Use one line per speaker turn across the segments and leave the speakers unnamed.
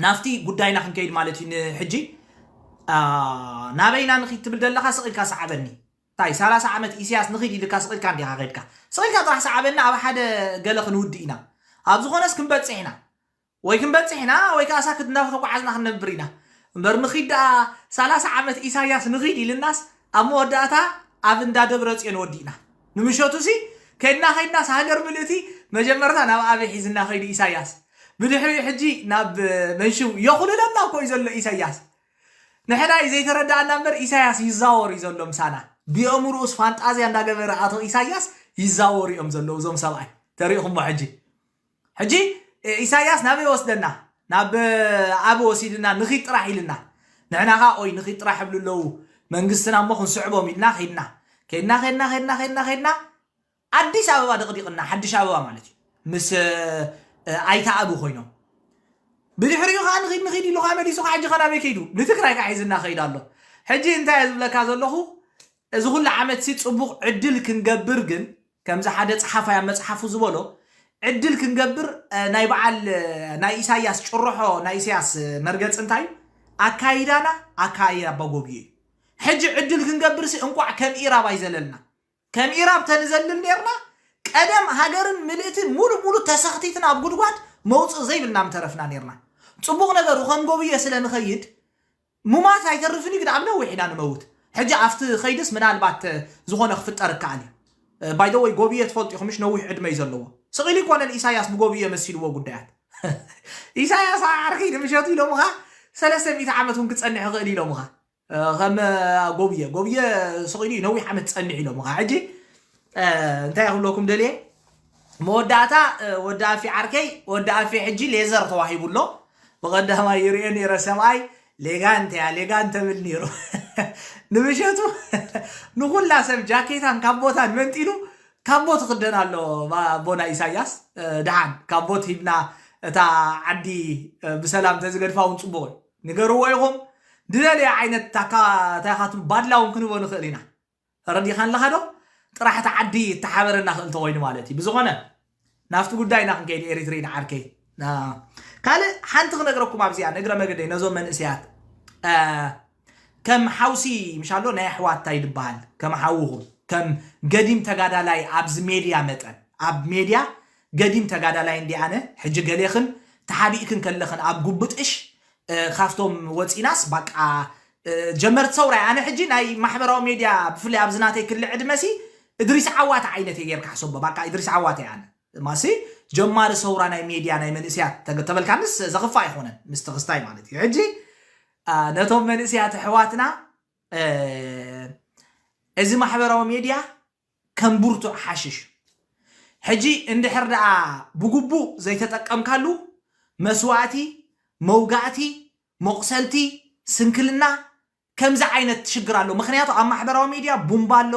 ናብቲ ጉዳይና ክንከይድ ማለት እዩ ንሕጂ ኣኣ፣ ናበይ ኢና ንኺድ ትብል ዘለኻ ስቕ ኢልካ ስዓበኒ እንታይ ሰላሳ ዓመት ኢሰያስ ንኺድ ኢልካ ስቕ ኢልካ እንዲኻ ኸድካ ስቕ ኢልካ ጥራሕ ስዓበኒ ኣብ ሓደ ገለ ክንውድእ ኢና ኣብ ዝኾነስ ክንበጽሕ ኢና ወይ ክንበጽሕ ኢና ወይ ከኣ ሳክት እንዳተጓዓዝና ክንነብር ኢና እምበር ንኺድ ደኣ ሰላሳ ዓመት ኢሳያስ ንኺድ ኢልናስ ኣብ መወዳእታ ኣብ እንዳ ደብረጽዮን ወዲእና ንምሸቱሲ ከድና ከድናስ ሃገር ምልእቲ መጀመርታ ናብ ኣበይ ሒዝና ከይዱ ኢሳያስ ብድሕሪኡ ሕጂ ናብ መንሽው የኹልለና እኮ እዩ ዘሎ ኢሳያስ ንሕና እዩ ዘይተረዳኣና እምበር ኢሳያስ ይዛወር እዩ ዘሎ ምሳና ብየእምርኡስ ፋንጣዝያ እንዳገበረ ኣቶ ኢሳያስ ይዛወሩ እዮም ዘለዉ እዞም ሰብኣይ ተሪእኹሞ ሕጂ ሕጂ ኢሳያስ ናበይ ወስደና ናብ ኣብ ወሲድና ንኺድ ጥራሕ ኢልና ንሕና ኸኣ ኦይ ንኺድ ጥራሕ ይብሉ ኣለዉ መንግስትና እሞ ክንስዕቦም ኢልና ኺድና ኬድና ኼድና ኼድና ኼድና ኼድና ኣዲስ ኣበባ ደቕዲቕና ሓድሽ ኣበባ ማለት እዩ ምስ ኣይተኣብ ኮይኖም ብድሕሪኡ ከዓ ንኺድ ንኺድ ኢሉ ከዓ መሊሱ ከዓ ሕጂ ከናበይ ከይዱ ንትግራይ ከዓ ሒዝና ከይድ ኣሎ ሕጂ እንታይ ዝብለካ ዘለኹ እዚ ኩሉ ዓመት ሲ ፅቡቕ ዕድል ክንገብር ግን ከምዚ ሓደ ጸሓፋይ ኣብ መጽሓፉ ዝበሎ ዕድል ክንገብር ናይ በዓል ናይ ኢሳያስ ጭርሖ ናይ ኢሳያስ መርገጽ እንታይ እዩ ኣካይዳና ኣካይዳ ኣባጎብዩ እዩ ሕጂ ዕድል ክንገብርሲ እንቋዕ ከም ኢራብ ኣይዘለልና ከም ኢራብ ተንዘልል ነርና ቀደም ሃገርን ምልእትን ሙሉ ሙሉ ተሰኽቲትና ኣብ ጉድጓድ መውጽእ ዘይብልና ምተረፍና ነርና ጽቡቕ ነገር ኸንጎብዮ ስለ ንኸይድ ሙማት ኣይተርፍን ዩ ግን ኣብ ነዊሕ ኢና ንመውት ሕጂ ኣፍቲ ከይድስ ምናልባት ዝኮነ ክፍጠር እካኣል ዩ ባይ ዘ ወይ ጎብየ ትፈልጡ ኢኩም ምሽ ነዊሕ ዕድመ ዩ ዘለዎ ስቅ ኢሉ ኣይኮነን ኢሳያስ ብጎብየ መሲልዎ ጉዳያት ኢሳያስ ኣብ ዓርኪ ንምሸቱ ኢሎምኻ ሰለስተ ሚእቲ ዓመት ውን ክጸንሕ ይክእል ኢሎምኻ ከም ጎብየ ጎብየ ስቅ ኢሉ ዩ ነዊሕ ዓመት ዝጸንሕ ኢሎምኻ ሕጂ እንታይ ክብለኩም ደልየ መወዳእታ ወዲ ኣፌ ዓርከይ ወዲ ኣፌ ሕጂ ሌዘር ተዋሂቡ ኣሎ ብቐዳማይ ይርኦ ነይረ ሰብኣይ ሌጋ እንተያ ሌጋ እንተብል ነይሩ ንምሸቱ ንኹላ ሰብ ጃኬታን ካቦታን መንጢሉ ካቦት ክደን ኣሎ ኣቦና ኢሳያስ ድሓን ካቦት ሂብና እታ ዓዲ ብሰላም ተዝገድፋ እውን ፅቡቕ እዩ ንገርዎ ኢኹም ድደለየ ዓይነት ታካ ታይካትሉ ባድላ እውን ክንህቦ ንኽእል ኢና ተረዲእካ ኣለኻ ዶ? ጥራሕ እታ ዓዲ እተሓበረና ክእ እንተኾይኑ ማለት እዩ። ብዝኾነ ናብቲ ጉዳይና ክንከይድ ኤሪትሪን ዓርከይ። ካልእ ሓንቲ ክነግረኩም ኣብዚኣ ንእግረ መገደይ ነዞም መንእሰያት ከም ሓውሲ ምሻሎ ናይ ኣሕዋት ታይ ድበሃል ከም ሓውኹም ከም ገዲም ተጋዳላይ ኣብዚ ሜድያ መጠን ኣብ ሜድያ ገዲም ተጋዳላይ እንዲ ኣነ ሕጂ ገሌኽን ተሓቢእክን ከለኽን ኣብ ጉብጥሽ ካብቶም ወፂናስ ባቃ ጀመርቲ ሰውራ ኣነ ሕጂ ናይ ማሕበራዊ ሜድያ ብፍላይ ኣብዚ ናተይ ክሊ ዕድመ ሲ እድሪስ ዓዋተ ዓይነት እየ ጌርካ ሕሰቦ ባቃ እድሪስ ዓዋተ እየ ኣነ ማሲ ጀማሪ ሰውራ ናይ ሜድያ ናይ መንእስያት ተገ- ተበልካንስ ዘኽፋ ኣይኮነን ምስቲ ክስታይ ማለት እዩ ሕጂ አ፣ ነቶም መንእስያት ኣሕዋትና እ፣ እዚ ማሕበራዊ ሜድያ ከም ብርቱዕ ሓሽሽ እዩ። ሕጂ እንድሕር ደኣ ብግቡእ ዘይተጠቀምካሉ መስዋእቲ መውጋእቲ መቑሰልቲ፣ ስንክልና፣ ከምዚ ዓይነት ሽግር ኣሎ። ምኽንያቱ ኣብ ማሕበራዊ ሚድያ ቡምባ ኣሎ፣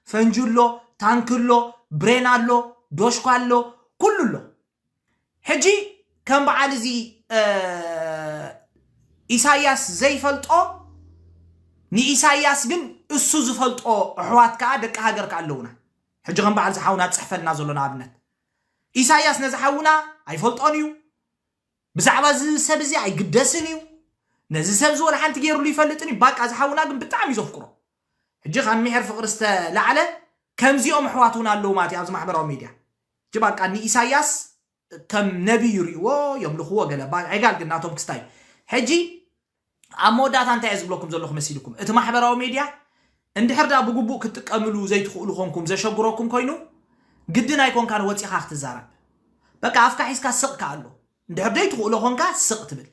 ፈንጂ ኣሎ፣ ታንኪ ኣሎ፣ ብሬን ኣሎ፣ ዶሽኳ ኣሎ፣ ኩሉ ኣሎ። ሕጂ ከም በዓል እዚ ኢሳያስ ዘይፈልጦ ንኢሳያስ ግን እሱ ዝፈልጦ ኣሕዋት ከዓ ደቂ ሃገር ከዓ ኣለውና። ሕጂ ከም በዓል ዝሓውና ዝፅሕፈልና ዘሎ ንኣብነት ኢሳያስ ነዚ ሓውና ኣይፈልጦን እዩ ብዛዕባ እዚ ሰብ እዚ ኣይግደስን እዩ ነዚ ሰብ እዚ ወላ ሓንቲ ገይርሉ ይፈልጥን እዩ ባቃ እዚ ሓውና ግን ብጣዕሚ እዩ ዘፍቅሮ ሕጂ ካብ ሚሕር ፍቅሪ ዝተላዕለ ከምዚኦም ኣሕዋት እውን ኣለዉ ማለት እዩ ኣብዚ ማሕበራዊ ሚድያ ሕጂ ባቃ ንኢሳያስ ከም ነቢ ይሪእዎ የምልኽዎ ገለ ባ- ዕጋል ግን ናቶም ክስታይ ሕጂ ኣብ መወዳእታ እንታይ እየ ዝብለኩም ዘለኹ መሲልኩም፣ እቲ ማሕበራዊ ሜድያ እንድሕር ድኣ ብግቡእ ክትጥቀምሉ ዘይትኽእሉ ኮንኩም ዘሸግረኩም ኮይኑ ግድን ኣይኮንካን ወጺኻ ክትዛረብ በቃ ኣፍካ ሒዝካ ስቕ ክኣሎ እንድሕር ዘይትኽእሎ ኮንካ ስቕ ትብል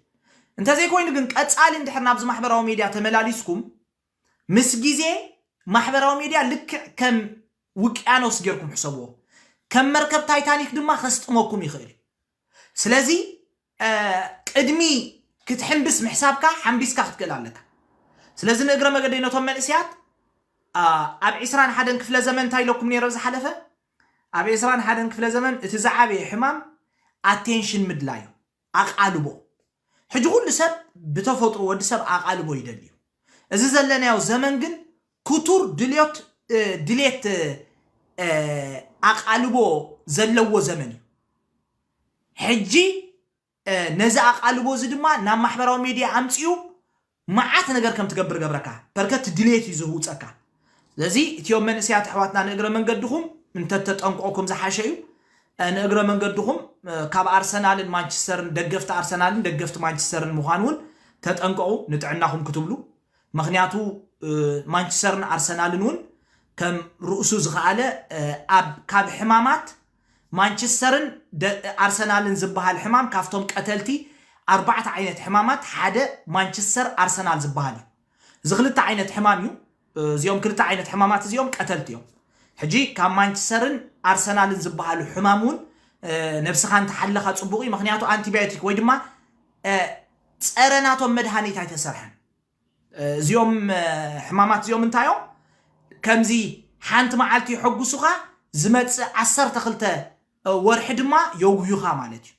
እንተዘይኮይኑ ግን ቀጻሊ እንድሕር ናብዚ ማሕበራዊ ሜድያ ተመላሊስኩም ምስ ግዜ ማሕበራዊ ሜድያ ልክዕ ከም ውቅያኖስ ጌርኩም ሕሰብዎ ከም መርከብ ታይታኒክ ድማ ከስጥመኩም ይኽእል ስለዚ ቅድሚ ክትሕምብስ ምሕሳብካ ሓምቢስካ ክትክእል ኣለካ። ስለዚ ንእግረ መገደይ ነቶም መንእስያት ኣብ ዕስራን ሓደን ክፍለ ዘመን እንታይ ኢለኩም ነይረ ዝሓለፈ ኣብ ዕስራን ሓደን ክፍለ ዘመን እቲ ዝዓበየ ሕማም ኣቴንሽን ምድላይ እዩ፣ ኣቓልቦ። ሕጂ ኩሉ ሰብ ብተፈጥሮ ወዲ ሰብ ኣቓልቦ ይደሊ እዩ። እዚ ዘለናዮ ዘመን ግን ክቱር ድልዮት ድሌት ኣቓልቦ ዘለዎ ዘመን እዩ። ሕጂ ነዚ ኣቓልቦ እዚ ድማ ናብ ማሕበራዊ ሜድያ ኣምጺኡ መዓት ነገር ከም ትገብር ገብረካ በርከ እቲ ድሌት እዩ ዝህውጸካ። ስለዚ እትዮም መንእሰያት ኣሕዋትና ንእግረ መንገድኹም እንተተጠንቆኩም ዝሓሸ እዩ። ንእግረ መንገድኹም ካብ ኣርሰናልን ማንቸስተርን ደገፍቲ ኣርሰናልን ደገፍቲ ማንቸስተርን ምዃን እውን ተጠንቀቑ ንጥዕናኹም ክትብሉ ምኽንያቱ ማንችስተርን ኣርሰናልን እውን ከም ርእሱ ዝኸኣለ ኣብ ካብ ሕማማት ማንችስተርን ኣርሰናልን ዝበሃል ሕማም ካብቶም ቀተልቲ ኣርባዕተ ዓይነት ሕማማት ሓደ ማንችስተር ኣርሰናል ዝበሃል እዩ እዚ ክልተ ዓይነት ሕማም እዩ እዚኦም ክልተ ዓይነት ሕማማት እዚኦም ቀተልቲ እዮም ሕጂ ካብ ማንችስተርን ኣርሰናልን ዝበሃሉ ሕማም እውን ነብስኻ እንተሓለኻ ፅቡቕ እዩ ምክንያቱ ኣንቲባዮቲክ ወይ ድማ ፀረ ናቶም መድሃኒት ኣይተሰርሐን እዚኦም ሕማማት እዚኦም እንታይ እዮም? ከምዚ ሓንቲ መዓልቲ የሐጉሱኻ ዝመጽእ ዓሰርተ ክልተ ወርሒ ድማ የጉህዩኻ ማለት እዩ።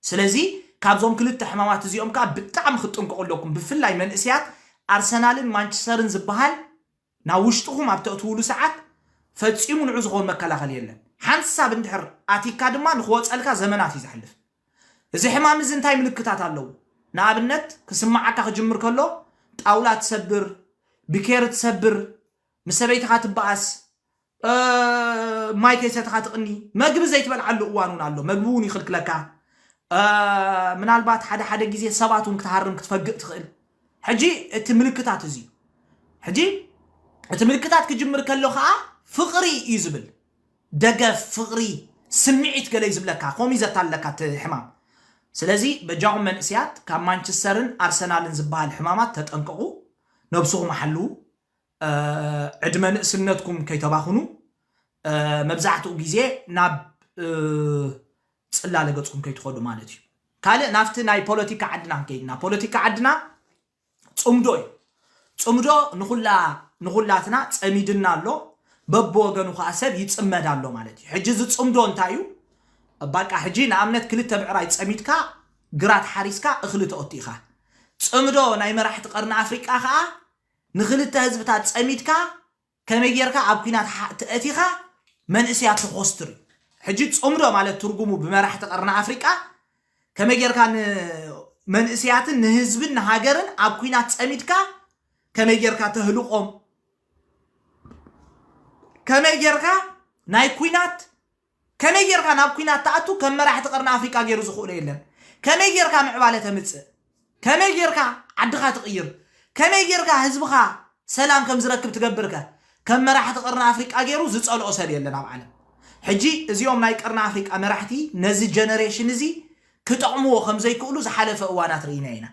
ስለዚ ካብዞም ክልተ ሕማማት እዚኦም ከኣ ብጣዕሚ ክትጥንቀቑ ኣለኩም። ብፍላይ መንእሰያት ኣርሰናልን ማንቸስተርን ዝበሃል ናብ ውሽጥኹም ኣብ ተእትዉሉ ሰዓት ፈጺሙ ንዑ ዝኸውን መከላኸሊ የለን። ሓንሳብ እንድሕር ኣቲካ ድማ ንክወጸልካ ዘመናት እዩ ዘሕልፍ። እዚ ሕማም እዚ እንታይ ምልክታት ኣለዎ? ንኣብነት ክስመዓካ ክጅምር ከሎ ጣውላ ትሰብር፣ ብኬሪ ትሰብር፣ ምስ ሰበይትኻ ትበኣስ፣ ማይ ከይሰተኻ ትቕኒ መግቢ ዘይትበልዓሉ እዋን እውን ኣሎ መግቢ እውን ይኽልክለካ ምናልባት ሓደ ሓደ ግዜ ሰባት እውን ክትሃርም ክትፈግእ ትኽእል ሕጂ እቲ ምልክታት እዚ እዩ ሕጂ እቲ ምልክታት ክጅምር ከሎ ከዓ ፍቕሪ እዩ ዝብል ደገፍ ፍቕሪ ስምዒት ገለይ ዝብለካ ከምኡ ዘታለካ እቲ ሕማም ስለዚ በጃኹም መንእስያት ካብ ማንቸስተርን ኣርሰናልን ዝበሃል ሕማማት ተጠንቀቑ ነብስኹም ሓልዉ ዕድመ ንእስነትኩም ከይተባኽኑ መብዛሕትኡ ግዜ ናብ ጽላለ ገጽኩም ከይትኸዱ ማለት እዩ ካልእ ናብቲ ናይ ፖለቲካ ዓድና ክንከይድና ፖለቲካ ዓድና ጽምዶ እዩ ጽምዶ ንኹላ ንኹላትና ጸሚድና ኣሎ በብወገኑ ከዓ ሰብ ይጽመድ ኣሎ ማለት እዩ ሕጂ እዚ ጽምዶ እንታይ እዩ ባቃ ሕጂ ንኣብነት ክልተ ብዕራይ ጸሚድካ ግራት ሓሪስካ እኽሊ ተኦቲ ኢኻ ጽምዶ ናይ መራሕቲ ቀርኒ ኣፍሪቃ ከዓ ንክልተ ህዝብታት ጸሚድካ ከመይ ጌርካ ኣብ ኩናት ኣእቲኻ መንእሰያት ተኾስትር እዩ። ሕጂ ጸምዶ ማለት ትርጉሙ ብመራሕቲ ቀርኒ ኣፍሪቃ ከመይ ጌርካ ንመንእሰያትን ንህዝብን ንሃገርን ኣብ ኩናት ጸሚድካ ከመይ ጌርካ ተህልቆም ከመይ ጌርካ ናይ ኩናት ከመይ ጌርካ ናብ ኩናት ትኣቱ ከም መራሕቲ ቀርኒ ኣፍሪቃ ጌሩ ዝኽእሎ የለን ከመይ ጌርካ ምዕባለ ተምጽእ ከመይ ጌርካ ዓድኻ ትቕይር ከመይ ጌርካ ህዝብኻ ሰላም ከም ዝረክብ ትገብር ከ ከም መራሕቲ ቀርኒ ኣፍሪቃ ጌሩ ዝጸልኦ ሰብ የለን ኣብ ዓለም ሕጂ እዚኦም ናይ ቀርኒ ኣፍሪቃ መራሕቲ ነዚ ጀነሬሽን እዚ ክጠቕምዎ ከም ዘይክእሉ ዝሓለፈ እዋናት ርኢና ኢና።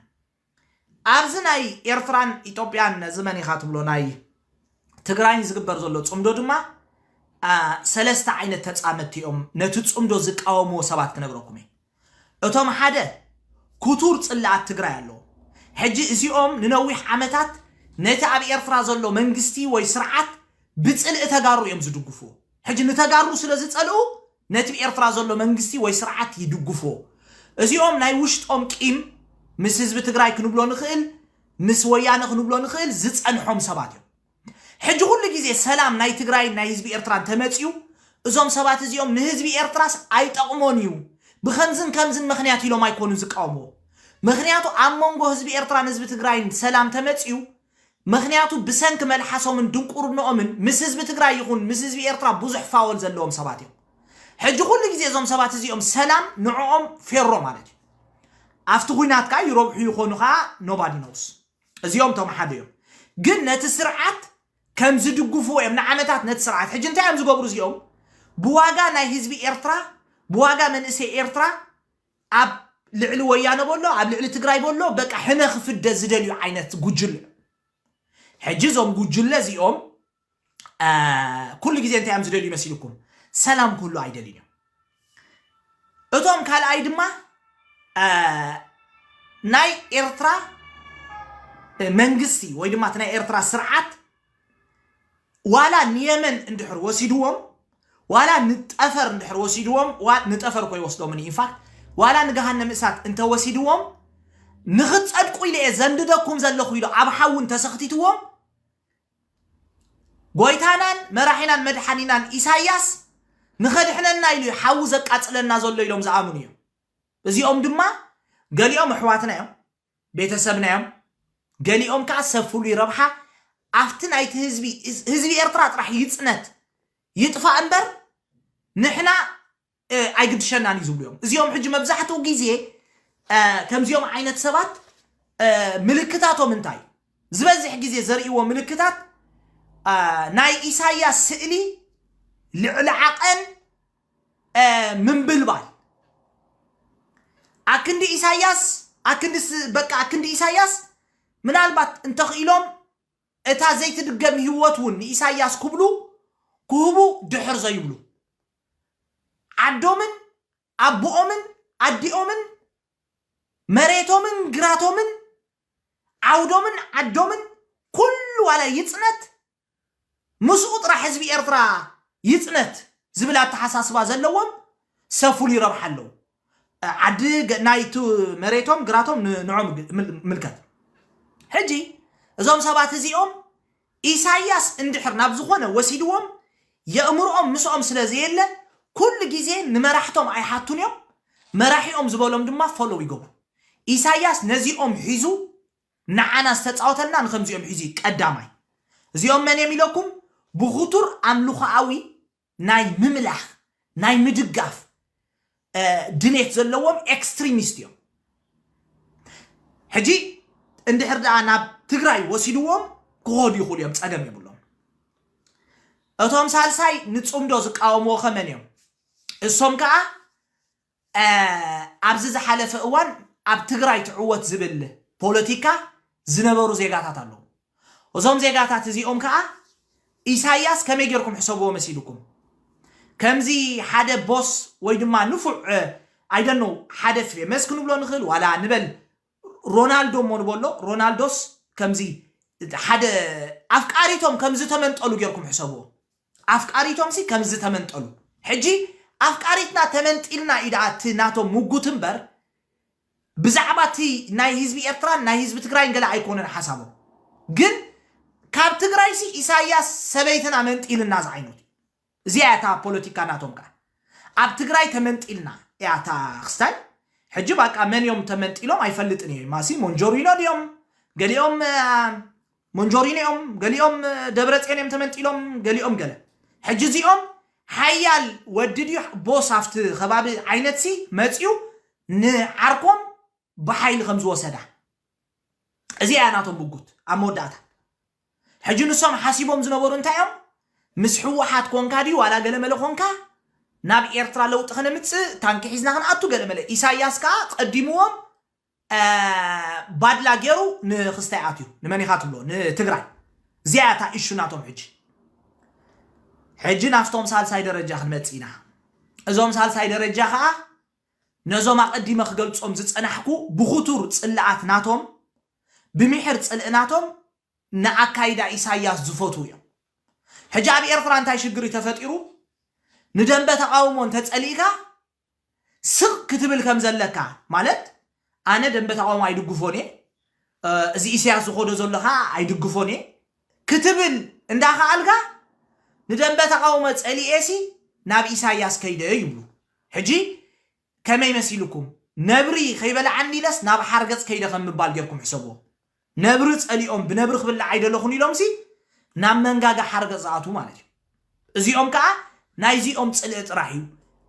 ኣብዚ ናይ ኤርትራን ኢትዮጵያን ነዚ መን ኢኻ ትብሎ ናይ ትግራይን ዝግበር ዘሎ ጽምዶ ድማ ሰለስተ ዓይነት ተጻመድቲ እዮም ነቲ ጽምዶ ዝቃወምዎ ሰባት ክነግረኩም እየ እቶም ሓደ ክቱር ጽላኣት ትግራይ ኣለዎ ሕጂ እዚኦም ንነዊሕ ዓመታት ነቲ ኣብ ኤርትራ ዘሎ መንግስቲ ወይ ስርዓት ብጽልኢ ተጋሩ እዮም ዝድግፍዎ ሕጂ ንተጋሩ ስለ ዝጸልኡ ነቲብ ኤርትራ ዘሎ መንግስቲ ወይ ስርዓት ይድጉፍዎ እዚኦም ናይ ውሽጦም ቂም ምስ ህዝቢ ትግራይ ክንብሎ ንክእል ምስ ወያነ ክንብሎ ንክእል ዝጸንሖም ሰባት እዮም ሕጂ ኩሉ ግዜ ሰላም ናይ ትግራይን ናይ ህዝቢ ኤርትራን ተመጺኡ እዞም ሰባት እዚኦም ንህዝቢ ኤርትራስ ኣይጠቕሞን እዩ ብከምዝን ከምዝን ምክንያት ኢሎም ኣይኮኑን ዝቃወምዎ ምክንያቱ ኣብ መንጎ ህዝቢ ኤርትራን ህዝቢ ትግራይን ሰላም ተመጺኡ ምኽንያቱ ብሰንኪ መልሓሶምን ድንቁርንኦምን ምስ ህዝቢ ትግራይ ይኹን ምስ ህዝቢ ኤርትራ ብዙሕ ፋወል ዘለዎም ሰባት እዮም። ሕጂ ኩሉ ግዜ እዞም ሰባት እዚኦም ሰላም ንዕኦም ፌሮ ማለት እዩ። ኣብቲ ኩናት ከኣ ይረብሑ ይኾኑ ከኣ nobody knows እዚኦም እቶም ሓደ እዮም። ግን ነቲ ስርዓት ከም ዝድግፍዎ እዮም ንዓመታት ነቲ ስርዓት ሕጂ እንታይ እዮም ዝገብሩ እዚኦም ብዋጋ ናይ ህዝቢ ኤርትራ ብዋጋ መንእሰይ ኤርትራ ኣብ ልዕሊ ወያነ በሎ ኣብ ልዕሊ ትግራይ በሎ በቃ ሕነ ክፍደ ዝደልዩ ዓይነት ጉጅለ ሕጂ እዞም ጉጅለ እዚኦም ኩሉ ግዜ እንታይ እዮም ዝደልዩ መሲልኩም ሰላም ክህሉ ኣይደልዩን እዮም እቶም ካልኣይ ድማ ናይ ኤርትራ መንግስቲ ወይ ድማ እቲ ናይ ኤርትራ ስርዓት ዋላ ንየመን እንድሕር ወሲድዎም ዋላ ንጠፈር እንድሕር ወሲድዎም ዋ- ንጠፈር እኮ ይወስዶምን ኢንፋክት ዋላ ንገሃነም እሳት እንተወሲድዎም ንኽትጸድቁ ኢለ እየ ዘንድደኩም ዘለኹ ኢሉ ኣብ ሓዊ እንተሰኽቲትዎም ጎይታናን መራሒናን መድሓኒናን ኢሳያስ ንኸድሕነና ኢሉ እዩ ሓዊ ዘቃጽለና ዘሎ ኢሎም ዝኣምኑ እዮም እዚኦም ድማ ገሊኦም ኣሕዋትና እዮም ቤተሰብና እዮም ገሊኦም ከኣ ሰብ ፍሉይ ረብሓ ኣብቲ ናይቲ ህዝቢ ህዝቢ ኤርትራ ጥራሕ ይጽነት ይጥፋእ እምበር ንሕና ኣይግድሸናን እዩ ዝብሉ እዮም እዚኦም ሕጂ መብዛሕትኡ ግዜ ከምዚኦም ዓይነት ሰባት ምልክታቶም እንታይ ዝበዝሕ ግዜ ዘርእይዎ ምልክታት ናይ ኢሳያስ ስእሊ ልዕሊ ዓቐን ምንብልባል ኣክንዲ ኢሳያስ ኣክንዲ በቃ ኣክንዲ ኢሳያስ ምናልባት እንተኽኢሎም እታ ዘይትድገም ህይወት እውን ንኢሳያስ ክብሉ ክህቡ ድሕር ዘይብሉ ዓዶምን ኣቦኦምን ኣዲኦምን መሬቶምን ግራቶምን ዓውዶምን ዓዶምን ኩሉ ዋላ ይፅነት ምስኡ ጥራሕ ህዝቢ ኤርትራ ይጽነት ዝብል ኣተሓሳስባ ዘለዎም ሰብ ፍሉይ ረብሓ ኣለዉ ዓዲ ናይ ቱ መሬቶም ግራቶም ን ንዖም ምልከት ሕጂ እዞም ሰባት እዚኦም ኢሳያስ እንድሕር ናብ ዝኾነ ወሲድዎም የእምርኦም ምስኦም ስለ ዘየለ ኩሉ ግዜ ንመራሕቶም ኣይሓቱን እዮም መራሒኦም ዝበሎም ድማ ፎሎው ይገብሩ ኢሳያስ ነዚኦም ሒዙ ንዓና ዝተጻወተልና ንከምዚኦም ሒዙ እዩ ቀዳማይ እዚኦም መን እዮም ኢለኩም ብኩቱር ኣምልኮኣዊ ናይ ምምላክ ናይ ምድጋፍ ድሌት ዘለዎም ኤክስትሪሚስት እዮም ሕጂ እንድሕር ደኣ ናብ ትግራይ ወሲድዎም ክኸዱ ይኽእሉ እዮም ጸገም የብሎም እቶም ሳልሳይ ንጽምዶ ዝቃወምዎ ከመን እዮም እሶም ከዓ ኣብዚ ዝሓለፈ እዋን ኣብ ትግራይ ትዕወት ዝብል ፖለቲካ ዝነበሩ ዜጋታት ኣለዉ። እዞም ዜጋታት እዚኦም ከኣ ኢሳያስ ከመይ ጌርኩም ሕሰብዎ መሲልኩም ከምዚ ሓደ ቦስ ወይ ድማ ንፉዕ ኣይደኖ ሓደ ፌመስ ክንብሎ ንኽእል ዋላ ንበል ሮናልዶ እሞ ንበሎ ሮናልዶስ ከምዚ ሓደ ኣፍቃሪቶም ከምዚ ተመንጠሉ ጌርኩም ሕሰብዎ ኣፍቃሪቶምሲ ከምዚ ተመንጠሉ ሕጂ ኣፍቃሪትና ተመንጢልና እዩ ደኣ እቲ ናቶም ሙጉት እምበር ብዛዕባ እቲ ናይ ህዝቢ ኤርትራን ናይ ህዝቢ ትግራይን ገለ ኣይኮነን ሓሳቦም ግን ካብ ትግራይሲ ኢሳያስ ሰበይትና መንጢልና ዝዓይነቱ እዩ እዚኣ እያ እታ ፖለቲካ ናቶም ከኣ ኣብ ትግራይ ተመንጢልና እያ እታ ክስታይ ሕጂ ባቃ መን እዮም ተመንጢሎም ኣይፈልጥን እየ ማሲ ሞንጆሪኖ ድዮም ገሊኦም ሞንጆሪኖ እዮም፣ ገሊኦም ደብረፅዮን እዮም ተመንጢሎም፣ ገሊኦም ገለ። ሕጂ እዚኦም ሓያል ወዲ ድዩ ቦስ ኣብቲ ከባቢ ዓይነትሲ መፅዩ ንዓርኮም ብሓይሊ ከም ዝወሰዳ እዚ እያ ናቶም ምጉት ኣብ መወዳእታ ሕጂ ንሶም ሓሲቦም ዝነበሩ እንታይ እዮም ምስ ሕወሓት ኮንካ ድዩ ዋላ ገለመለ ኮንካ ናብ ኤርትራ ለውጢ ከነምፅእ ታንኪ ሒዝና ክንኣቱ ገለመለ ኢሳያስ ከዓ ቀዲምዎም ባድላ ጌሩ ንክስታይ ኣትዩ ንመን ኢካ ትብሎ ንትግራይ እዚኣ እያ እታ ኢሹ ናቶም ሕጂ ሕጂ ናብቶም ሳልሳይ ደረጃ ክንመጽእ ኢና እዞም ሳልሳይ ደረጃ ከዓ ነዞም ኣቐዲመ ክገልጾም ዝጸናሕኩ ብኽቱር ጽልኣት ናቶም ብሚሕር ጽልእ ናቶም ንኣካይዳ ኢሳያስ ዝፈትዉ እዮም ሕጂ ኣብ ኤርትራ እንታይ ሽግሪ ተፈጢሩ ንደንበ ተቃውሞ እንተጸሊእካ ስቅ ክትብል ከም ዘለካ ማለት ኣነ ደንበ ተቃውሞ ኣይድግፎን እየ እዚ ኢሰያስ ዝኮዶ ዘሎ ከኣ ኣይድግፎን እየ ክትብል እንዳ ከኣልካ ንደንበ ተቃውሞ ጸሊኤሲ ናብ ኢሳያስ ከይደ ይብሉ ሕጂ ከመይ መሲልኩም ነብሪ ከይበልዓኒ ኢለስ ናብ ሓርገጽ ከይደ ከም ምባል ጌርኩም ሕሰብዎ ነብሪ ጸሊኦም ብነብሪ ክብላዕ ኣይደለኹን ኢሎምሲ ናብ መንጋጋ ሓርገጽ ዝኣትዉ ማለት እዩ። እዚኦም ከኣ ናይዚኦም ጽልኢ ጥራሕ እዩ።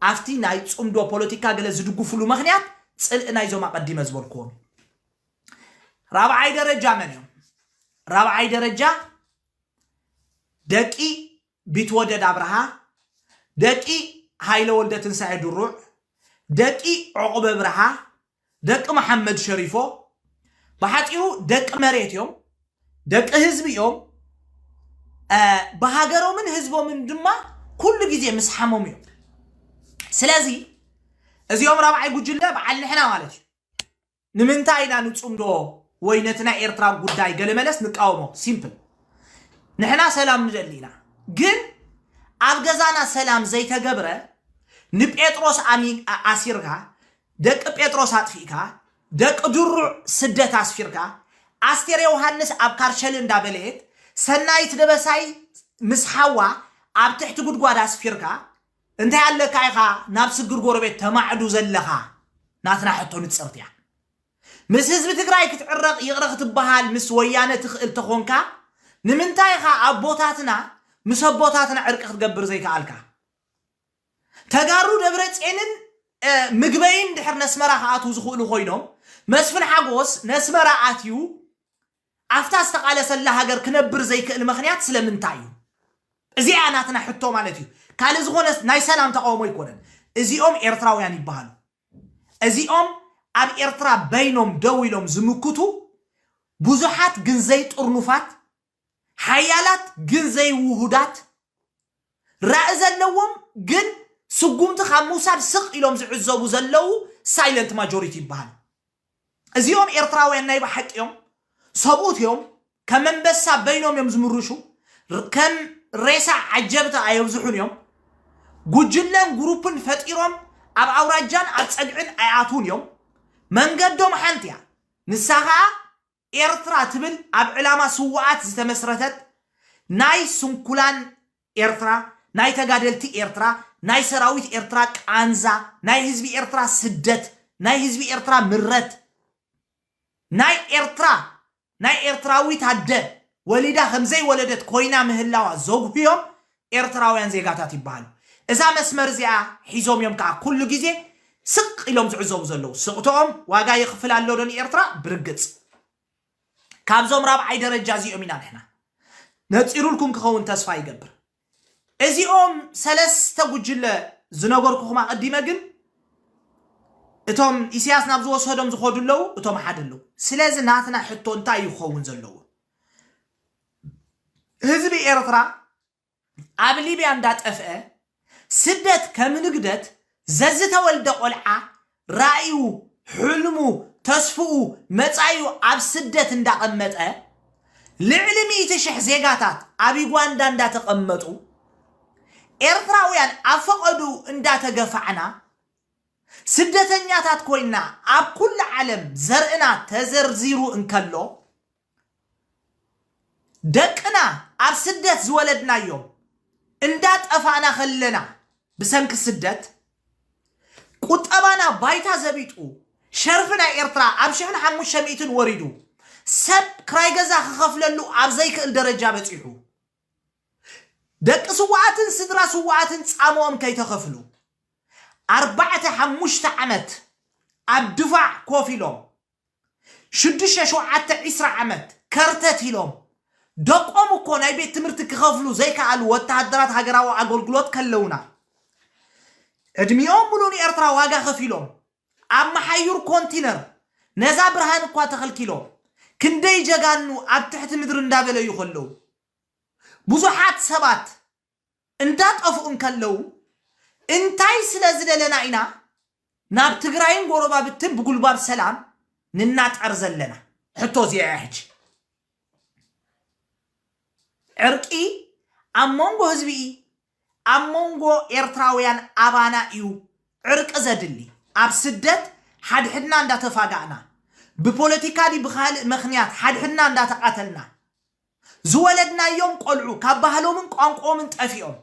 ኣብቲ ናይ ጽምዶ ፖለቲካ ገለ ዝድግፉሉ መኽንያት ጽልኢ ናይዞም ኣቐዲመ ዝበልኩዎም እዩ። ራብዓይ ደረጃ መን እዮም? ራብዓይ ደረጃ ደቂ ቢትወደድ ኣብርሃ፣ ደቂ ሃይለ ወልደትንሳኤ ድሩዕ፣ ደቂ ዑቕበ ብርሃ፣ ደቂ መሓመድ ሸሪፎ ብሓጺሩ ደቂ መሬት እዮም ደቂ ህዝቢ እዮም ብሃገሮምን ህዝቦምን ድማ ኩሉ ግዜ ምስ ሓሞም እዮም ስለዚ እዚኦም ራብዓይ ጉጅለ በዓል ንሕና ማለት እዩ ንምንታይ ኢና ንፅምዶ ወይ ነቲ ናይ ኤርትራ ጉዳይ ገለመለስ ንቃወሞ ሲምፕል ንሕና ሰላም ንደሊ ኢና ግን ኣብ ገዛና ሰላም ዘይተገብረ ንጴጥሮስ ኣሲርካ ደቂ ጴጥሮስ ኣጥፊእካ፣ ደቂ ድሩዕ ስደት ኣስፊርካ፣ ኣስቴር ዮውሃንስ ኣብ ካርሸሊ እንዳ በለየት፣ ሰናይት ደበሳይ ምስ ሓዋ ኣብ ትሕቲ ጉድጓድ ኣስፊርካ፣ እንታይ ኣለካ ኢኻ ናብ ስግር ጎረቤት ተማዕዱ ዘለኻ ናትና ሕቶ ንጽርቲ እያ። ምስ ህዝቢ ትግራይ ክትዕረቕ ይቕረ ክትበሃል ምስ ወያነ ትኽእል ተኾንካ ንምንታይ ኢኻ ኣቦታትና ምስ ኣቦታትና ዕርቂ ክትገብር ዘይከኣልካ? ተጋሩ ደብረጼንን ምግበይን ድሕር ነስመራ ክኣትዉ ዝኽእሉ ኮይኖም መስፍን ሓጎስ ነስመራ ኣትዩ ኣፍታ ዝተቃለሰላ ሃገር ክነብር ዘይክእል መኽንያት ስለምንታይ እዩ እዚኣ እያ ናትና ሕቶ ማለት እዩ ካልእ ዝኾነ ናይ ሰላም ተቃውሞ ኣይኮነን እዚኦም ኤርትራውያን ይበሃሉ እዚኦም ኣብ ኤርትራ በይኖም ደው ኢሎም ዝምክቱ ብዙሓት ግን ዘይጥርኑፋት ሓያላት ግን ዘይውሁዳት፣ ራኢ ዘለዎም ግን ስጉምቲ ካብ ምውሳድ ስቕ ኢሎም ዝዕዘቡ ዘለዉ ሳይለንት ማጆሪቲ ይበሃሉ። እዚኦም ኤርትራውያን ናይ ብሓቂ እዮም፣ ሰብኡት እዮም፣ ከም ኣንበሳ በይኖም እዮም ዝምርሹ፣ ከም ሬሳ ዓጀብቲ ኣየብዝሑን እዮም፣ ጉጅለን ግሩፕን ፈጢሮም ኣብ ኣውራጃን ኣብ ጸግዕን ኣይኣትዉን እዮም፣ መንገዶም ሓንቲ እያ፣ ንሳ ከኣ ኤርትራ ትብል ኣብ ዕላማ ስዉኣት ዝተመስረተት ናይ ስንኩላን ኤርትራ ናይ ተጋደልቲ ኤርትራ ናይ ሰራዊት ኤርትራ ቃንዛ ናይ ህዝቢ ኤርትራ ስደት ናይ ህዝቢ ኤርትራ ምረት ናይ ኤርትራ ናይ ኤርትራዊት ኣደ ወሊዳ ከምዘይወለደት ኮይና ምህላዋ ዘጉህዮም ኤርትራውያን ዜጋታት ይበሃሉ። እዛ መስመር እዚኣ ሒዞም እዮም ከኣ ኩሉ ግዜ ስቕ ኢሎም ዝዕዘቡ ዘለዉ። ስቕትኦም ዋጋ የኽፍል ኣሎ ዶ ንኤርትራ? ብርግጽ። ካብዞም ራብዓይ ደረጃ እዚኦም ኢና ንሕና። ነጺሩልኩም ክኸውን ተስፋ ይገብር። እዚኦም ሰለስተ ጉጅለ ዝነገርኩኹም ኣቐዲመ ግን እቶም ኢሳያስ ናብ ዝወሰዶም ዝኸዱ ኣለዉ፣ እቶም ሓደ ኣለዉ። ስለዚ ናትና ሕቶ እንታይ እዩ ክኸውን ዘለዎ? ህዝቢ ኤርትራ ኣብ ሊብያ እንዳጠፍአ ስደት ከም ንግደት ዘዝተወልደ ቆልዓ ራኢኡ ሕልሙ ተስፍኡ መጻኢኡ ኣብ ስደት እንዳቐመጠ ልዕሊ ሚእቲ ሽሕ ዜጋታት ኣብ ዩጋንዳ እንዳተቐመጡ ኤርትራውያን ኣብ ፈቐድኡ እንዳተገፋዕና ስደተኛታት ኮይና ኣብ ኩሉ ዓለም ዘርእና ተዘርዚሩ እንከሎ ደቅና ኣብ ስደት ዝወለድናዮም እንዳ ጠፋእና ከለና ብሰንኪ ስደት ቁጠባና ባይታ ዘቢጡ ሸርፊ ናይ ኤርትራ ኣብ ሽሕን ሓሙሽተ ሚእትን ወሪዱ ሰብ ክራይ ገዛ ክኸፍለሉ ኣብ ዘይክእል ደረጃ በጺሑ ደቂ ስዋኣትን ስድራ ስዋኣትን ጻምኦም ከይተኸፍሉ ኣርባዕተ ሓሙሽተ ዓመት ኣብ ድፋዕ ኮፍ ኢሎም ሽዱሽተ ሸውዓተ ዕስራ ዓመት ከርተት ኢሎም ደቆም እኮ ናይ ቤት ትምህርቲ ክኸፍሉ ዘይከኣሉ ወተሃደራት ሃገራዊ ኣገልግሎት ከለውና ዕድሚኦም ሙሉእ ንኤርትራ ዋጋ ከፊሎም ኣብ መሓዩር ኮንቲነር ነዛ ብርሃን እኳ ተኸልኪሎም ክንደይ ጀጋኑ ኣብ ትሕቲ ምድሪ እንዳበለዩ ከለው ብዙሓት ሰባት እንዳጠፍኡ እንከለዉ እንታይ ስለዝደለና ኢና ናብ ትግራይን ጎረባብትን ብጉልባብ ሰላም ንናጠር ዘለና ሕቶ እዚኣ እያ ሕጂ ዕርቂ ኣብ መንጎ ህዝቢ እዪ ኣብ መንጎ ኤርትራውያን ኣባና እዩ ዕርቂ ዘድሊ ኣብ ስደት ሓድሕድና እንዳተፋጋእና ብፖለቲካ ድዩ ብካልእ መክንያት ሓድሕድና እንዳተቃተልና ዝወለድናዮም ቆልዑ ካብ ባህሎምን ቋንቁኦምን ጠፊኦም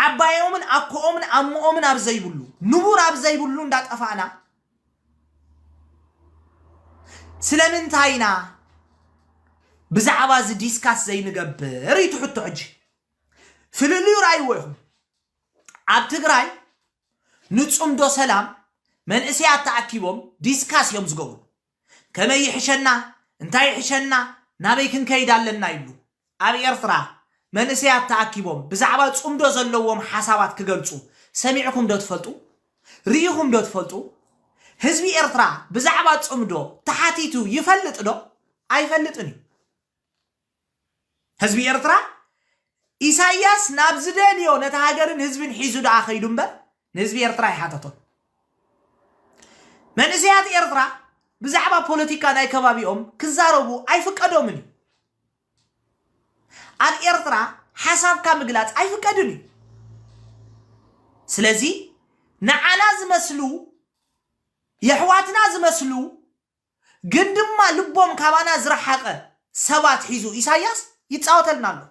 ዓባዮምን ኣኮኦምን ኣሞኦምን ኣብ ዘይብሉ ንቡር ኣብ ዘይብሉ እንዳጠፋእና ስለምንታይ ኢና ብዛዕባ እዚ ዲስካስ ዘይንገብር እዩ ትሕቶ ሕጂ ፍልልዩ ራይዎ ይኹም ኣብ ትግራይ ንፅምዶ ሰላም መንእሰያት ተኣኪቦም ዲስካስ እዮም ዝገብሩ ከመይ ይሕሸና እንታይ ይሕሸና ናበይ ክንከይድ ኣለና ይብሉ። ኣብ ኤርትራ መንእሰያት ተኣኪቦም ብዛዕባ ጽምዶ ዘለዎም ሓሳባት ክገልጹ ሰሚዕኩም ዶ ትፈልጡ? ርኢኹም ዶ ትፈልጡ? ህዝቢ ኤርትራ ብዛዕባ ጽምዶ ተሓቲቱ ይፈልጥ ዶ? ኣይፈልጥን እዩ። ህዝቢ ኤርትራ ኢሳያስ ናብ ዝደልዮ ነቲ ሃገርን ህዝብን ሒዙ ደኣ ከይዱ እምበር ንህዝቢ ኤርትራ ኣይሓተቶን። መንእሰያት ኤርትራ ብዛዕባ ፖለቲካ ናይ ከባቢኦም ክዛረቡ ኣይፍቀዶምን እዩ። ኣብ ኤርትራ ሓሳብካ ምግላጽ ኣይፍቀድን እዩ። ስለዚ ንዓና ዝመስሉ የሕዋትና ዝመስሉ ግን ድማ ልቦም ካባና ዝረሓቀ ሰባት ሒዙ ኢሳያስ ይጻወተልና ኣሎ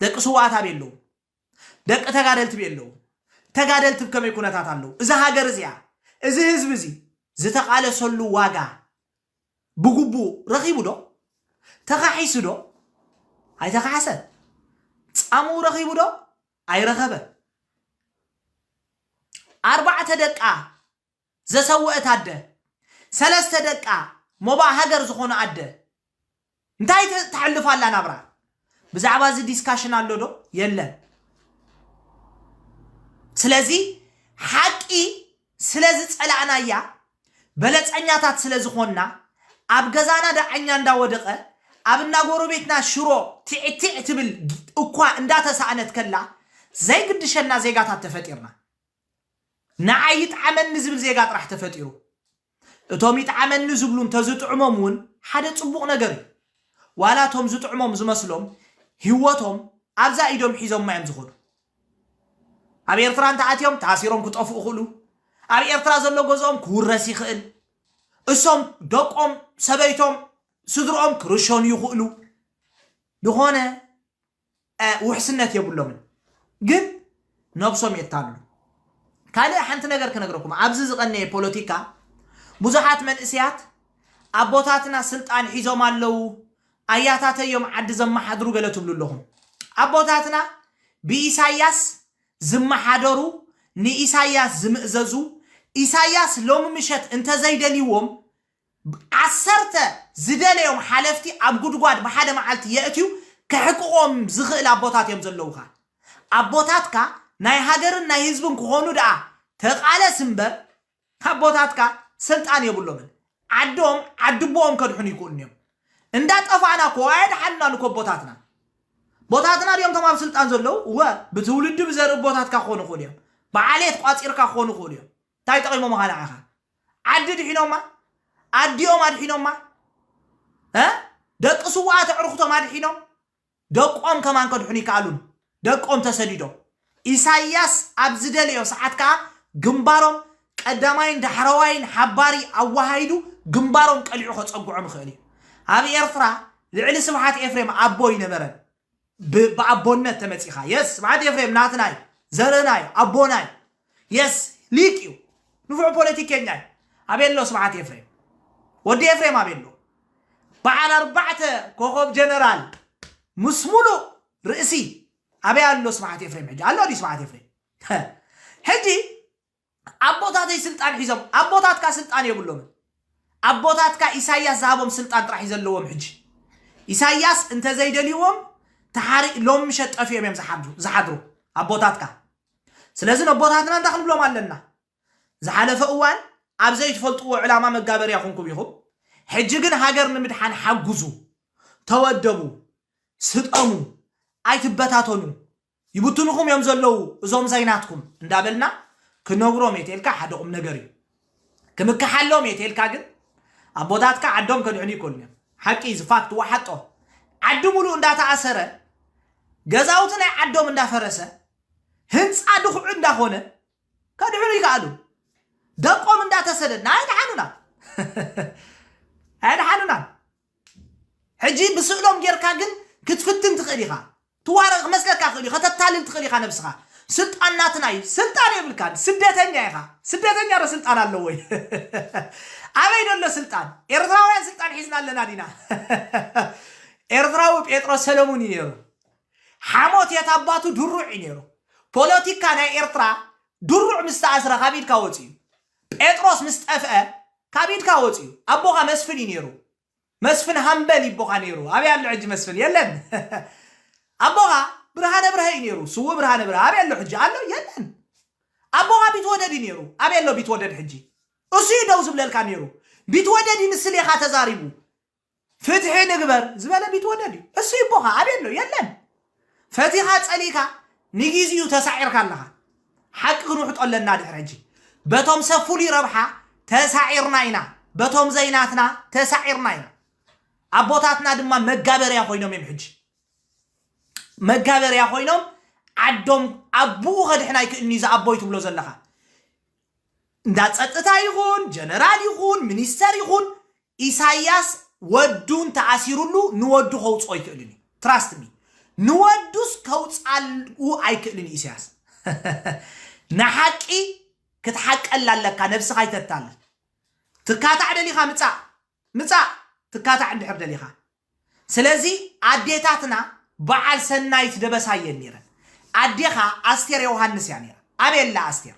ደቂ ስውኣት ኣበይ ኣለዉ ደቂ ተጋደልቲ በይ ኣለዉ ተጋደልቲ ብ ከመይ ኩነታት ኣለዉ እዛ ሃገር እዚኣ እዚ ህዝቢ እዚ ዝተቃለሰሉ ዋጋ ብግቡእ ረኺቡ ዶ ተኻሒሱ ዶ ኣይተኻሕሰን ጻምኡ ረኺቡ ዶ ኣይረኸበን። ኣርባዕተ ደቃ ዘሰወእት ኣደ፣ ሰለስተ ደቃ ሞባእ ሃገር ዝኾኑ ኣደ እንታይ ተሕልፍ ኣላ ናብራ? ብዛዕባ እዚ ዲስካሽን ኣሎ ዶ? የለን። ስለዚ ሓቂ ስለ ዝጸላእናያ በለጸኛታት ስለ ዝኾንና ኣብ ገዛና ዳዕኛ እንዳወደቐ ኣብ እንዳ ጎረቤትና ሽሮ ቲዕ ቲዕ ትብል እኳ እንዳተሳእነት ከላ ዘይግድሸና ዜጋታት ተፈጢርና። ንዓይ ይጥዓመኒ ዝብል ዜጋ ጥራሕ ተፈጢሩ። እቶም ይጥዓመኒ ዝብሉ እንተዝጥዕሞም እውን ሓደ ጽቡቕ ነገር እዩ። ዋላ እቶም ዝጥዕሞም ዝመስሎም ህይወቶም ኣብዛ ኢዶም ሒዞማ እዮም ዝኸዱ። ኣብ ኤርትራ እንተ ኣትዮም ተኣሲሮም ክጠፍኡ ይኽእሉ፣ ኣብ ኤርትራ ዘሎ ገዝኦም ክውረስ ይኽእል፣ እሶም፣ ደቆም፣ ሰበይቶም፣ ስድርኦም ክርሸኑ ይኽእሉ፣ ዝኾነ ውሕስነት የብሎምን። ግን ነብሶም የታልሉ። ካልእ ሓንቲ ነገር ክነግረኩም፣ ኣብዚ ዝቐነየ ፖለቲካ ብዙሓት መንእስያት ኣቦታትና ስልጣን ሒዞም ኣለዉ፣ ኣያታተይ እዮም ዓዲ ዘማሓድሩ ገለ ትብሉ ኣለኹም ኣቦታትና ብኢሳያስ ዝማሓደሩ ንኢሳያስ ዝምእዘዙ ኢሳያስ ሎሚ ምሸት እንተዘይደልይዎም ዓሰርተ ዝደለዮም ሓለፍቲ ኣብ ጉድጓድ ብሓደ ማዓልቲ የእትዩ ከሕቅቆም ዝኽእል ኣቦታት እዮም ዘለዉኻ ኣቦታትካ ናይ ሃገርን ናይ ህዝብን ክኾኑ ደኣ ተቃለስ እምበር ኣቦታትካ ስልጣን የብሎምን ዓዶም ዓድቦኦም ከድሕኑ ይክእሉን እዮም እንዳ ጠፋእና እኮ ኣየድሓኑናን እኮ ኣቦታትና ቦታትና ድዮም ቶም ኣብ ስልጣን ዘለዉ እወ ብትውልዲ ብዘርኢ ቦታትካ ክኾኑ ይኽእሉ እዮም ብዓሌት ቋፂርካ ክኾኑ ይኽእሉ እዮም እንታይ ጠቒሞምኻ ንዓኻ ዓዲ ድሒኖማ ኣዲኦም ኣድሒኖማ እ ደቂ ስውኣት ኣዕርኽቶም ኣድሒኖም ደቆም ከማን ከድሕኑ ይከኣሉን ደቆም ተሰዲዶም ኢሳይያስ ኣብ ዝደለዮ ሰዓት ከኣ ግንባሮም ቀዳማይን ዳሕረዋይን ሓባሪ ኣወሃሂዱ ግንባሮም ቀሊዑ ከጸግዖም ይኽእል እዩ ኣብ ኤርትራ ልዕሊ ስብሓት ኤፍሬም ኣቦ ኣይነበረን ብ ብኣቦነት ተመጺኻ የስ ስብሓት ኤፍሬም ናትና እዩ ዘርእና እዩ ኣቦና እዩ Yes ሊቅ እዩ ንፉዕ ፖለቲከኛ እዩ ኣቤሎ ስብሓት ኤፍሬም ወዲ ኤፍሬም ኣቤሎ በዓል ኣርባዕተ ኮኾብ ጀነራል ምስ ሙሉእ ርእሲ ኣበይ ኣሎ ስብሓት ኤፍሬም ሕጂ ኣሎ ድዩ ስብሓት ኤፍሬም ሕጂ ኣቦታተይ ስልጣን ሒዞም ኣቦታትካ ስልጣን የብሎምን ኣቦታትካ ኢሳያስ ዝሃቦም ስልጣን ጥራሕ እዩ ዘለዎም ሕጂ ኢሳያስ እንተዘይደልዎም ተሓሪ ሎም ምሸት ጠፊኦም እዮም ዝሓድሩ- ዝሓድሩ ኣቦታትካ ስለዚ ነቦታትና እንታይ ክንብሎም ኣለና ዝሓለፈ እዋን ኣብ ዘይትፈልጥዎ ዕላማ መጋበርያ ኩንኩም ኢኹም ሕጂ ግን ሃገር ንምድሓን ሓጉዙ ተወደቡ ስጠሙ ኣይትበታተኑ ይብትኑኹም እዮም ዘለዉ እዞም ዘይናትኩም እንዳበልና ክነግሮም የቴልካ ሓደ ቁም ነገር እዩ ክምከሓሎም እየ ተልካ ግን ኣቦታትካ ዓዶም ከድሕኑ ይኮኑ እዮም ሓቂ እዚ ፋክት ዋሓጦ ዓዲ ሙሉእ እንዳተኣሰረ ገዛውቲ ናይ ዓዶም እንዳፈረሰ ህንፃ ድኹዑ እንዳኾነ ከድሕኑ ይከኣሉ ደቆም እንዳተሰደድና ኣይድሓኑና ኣይድሓኑና ሕጂ ብስእሎም ጌርካ ግን ክትፍትን ትኽእል ኢኻ ትዋረ ክመስለካ ይኽእልዩ ከተታልል ትኽእል ኢኻ ነብስኻ ስልጣን ናትና እዩ ስልጣን የብልካን ስደተኛ ኢኻ ስደተኛ ዶ ስልጣን ኣለዎ እዩ ኣበይ ደሎ ስልጣን ኤርትራውያን ስልጣን ሒዝና ኣለና ዲና ኤርትራዊ ጴጥሮስ ሰለሙን እዩ ነይሩ ሓሞት የት ኣባቱ ድሩዕ እዩ ነይሩ ፖለቲካ ናይ ኤርትራ ድሩዕ ምስ ተኣስረ ካብ ኢድካ ወፂኡ ጴጥሮስ ምስ ጠፍኣ ካብ ኢድካ ወጽዩ ኣቦኻ መስፍን እዩ ነይሩ መስፍን ሃምበል ይቦኻ ነይሩ ኣበይ ኣሎ ሕጂ መስፍን የለን ኣቦኻ ብርሃነ ብርሀ እዩ ነይሩ ስውእ ብርሃነ ብርሀ ኣበይ ኣሎ ሕጂ ኣሎ የለን ኣቦኻ ቢትወደድ እዩ ነይሩ ኣበይ ኣሎ ቢትወደድ ሕጂ እሱ እዩ ደው ዝብለልካ ነይሩ ቢትወደድ እዩ ንስሌኻ ተዛሪቡ ፍትሒ ንግበር ዝበለ ቢትወደድ እዩ እሱይ እቦኻ ኣበይ ኣሎ የለን ፈቲኻ ጸሊእካ ንጊዚኡ ተሳዒርካ ኣለኻ ሓቂ ክንውሕጦ ኣለና ድሕሪ ሕጂ በቶም ሰብ ፍሉይ ረብሓ ተሳዒርና ኢና በቶም ዘይናትና ተሳዒርና ኢና ኣቦታትና ድማ መጋበርያ ኮይኖም እዮም ሕጂ መጋበርያ ኮይኖም ዓዶም ኣቦኡ ከድሕን ኣይክእልን እዩ ዝኣቦይ ትብሎ ዘለኻ እንዳ ፀጥታ ይኹን ጀነራል ይኹን ሚኒስተር ይኹን ኢሳያስ ወዱ እንተኣሲሩሉ ንወዱ ከውጽኦ ኣይክእልን እዩ ትራስት ሚ ንወዱስ ከውጻኡ ኣይክእልን እዩ ኢሳያስ ንሓቂ ክትሓቀላ ኣለካ ነብስኻ ይተታልል ትካታዕ ደሊኻ ምጻእ ምጻእ ትካታዕ እንድሕር ደሊኻ ስለዚ ኣዴታትና በዓል ሰናይት ደበሳይ እየን ነይረን። ኣዴኻ ኣስቴር ዮውሃንስ እያ ነይራ። ኣበይ ኣላ ኣስቴር?